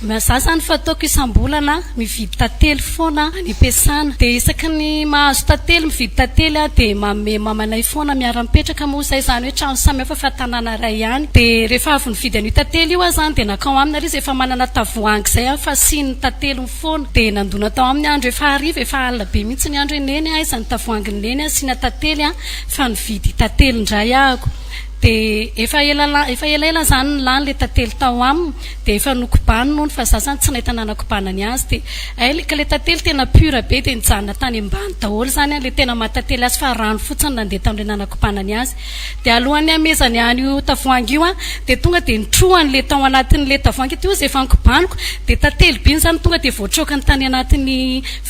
Na za zany fa ataoko isambolana mividy tantely foana any am-piasana dia isaky ny mahazo tantely mividy tantely aho dia manome mamanay foana miara mipetraka moa izay izany hoe trano samy hafa fa tanàna iray ihany dia rehefa avy nividy an'io tantely io aho izany dia nankao aminy ary izy efa manana tavoahangy izay aho fasiany ny tanteliny foana dia nandona tao aminy aho andro efa hariva efa alina be mihitsy ny andro hoe neny a aiza ny tavoahangin'i neny asiana tantely a fa nividy tantely indray ahako dia efa ela efa elaela izany no lany ilay tantely tao aminy Dia efa nokobany nony fa za zany tsy nahita nanakobana ny azy dia hay le ka le tantely tena pure be dia nijanona tany ambany daholo zany an le tena maha tantely azy fa rano fotsiny nandeha tamle nanakobana ny azy dia alohan'ny hamezany an'io tavoahangy io an dia tonga dia nitrohany le tao anatin'le tavoahangy ity ozy efa nikobaniko dia tantely be iny zany tonga dia voatraokany tany anatin'ny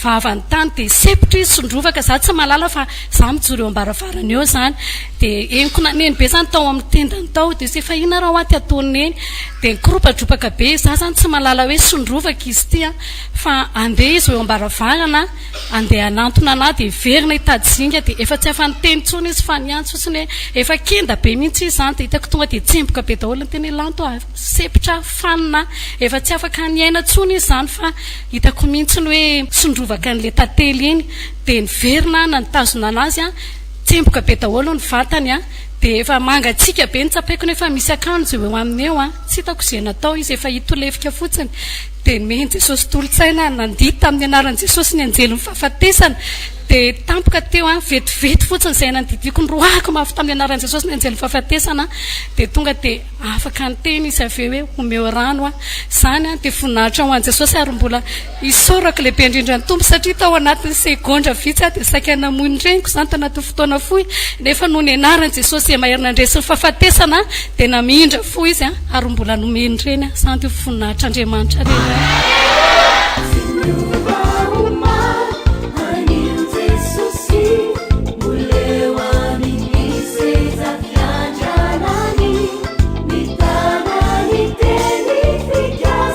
vavany tany dia sepotra izy sondrovaka za tsy mahalala fa za mijoro eo ambaravarana eo zany Dia henoko naneno be izany tao amin'ny tendany tao, dia se fahina raha ho aty ataon'i Neny, dia nikoropatropaka be, izaho izany tsy mahalala hoe sondrovako izy ity an, fa handeha izy ho eo am-baravarana handeha hanantona an'ahy, dia hiverina hitady zinga, dia efa tsy afa-niteny intsony izy fa niantso fotsiny hoe efa kenda be mihitsy izy izany, dia hitako tonga dia tsemboka be daholo ny tenany, lanto aho, sempotra aho, fanina aho, efa tsy afaka niaina intsony izy izany fa hitako mihitsy ny hoe sondrovaka an'ilay tantely iny, dia niverina aho nitazona an'azy an, Tsemboka be daholo ny vatany an! Dia efa mangatsiaka be ny tsapaikony efa misy akanjo eo aminy eo an! Tsy hitako izay natao izy efa hita ho lefika fotsiny! Dia nomen'i Jesosy tolo-tsaina nandihy tamin'ny anaran'i Jesosy ny anjelin'ny fahafatesana! Dia tampoka teo an! Vetivety fotsiny izay nandidiako noroahako mafy tamin'ny anaran'i Jesosy ny anjelin'ny fahafatesana an! Dia tonga dia afaka niteny izy avy eo hoe omeo rano aho! Izany an! Dia voninahitra ho an'i Jesosy ary mbola Isaorako lehibe indrindra ny Tompo satria tao anatin'ny segondra vitsy aho dia saika namoy ny reniko izany tanatin'ny fotoana fohy nefa noho ny anaran'i Jesosy izay mahery nandresy ny fahafatesana dia namindra fo izy ary mbola nomeny ny reny aho izany dia ho voninahitr'Andriamanitra reny aho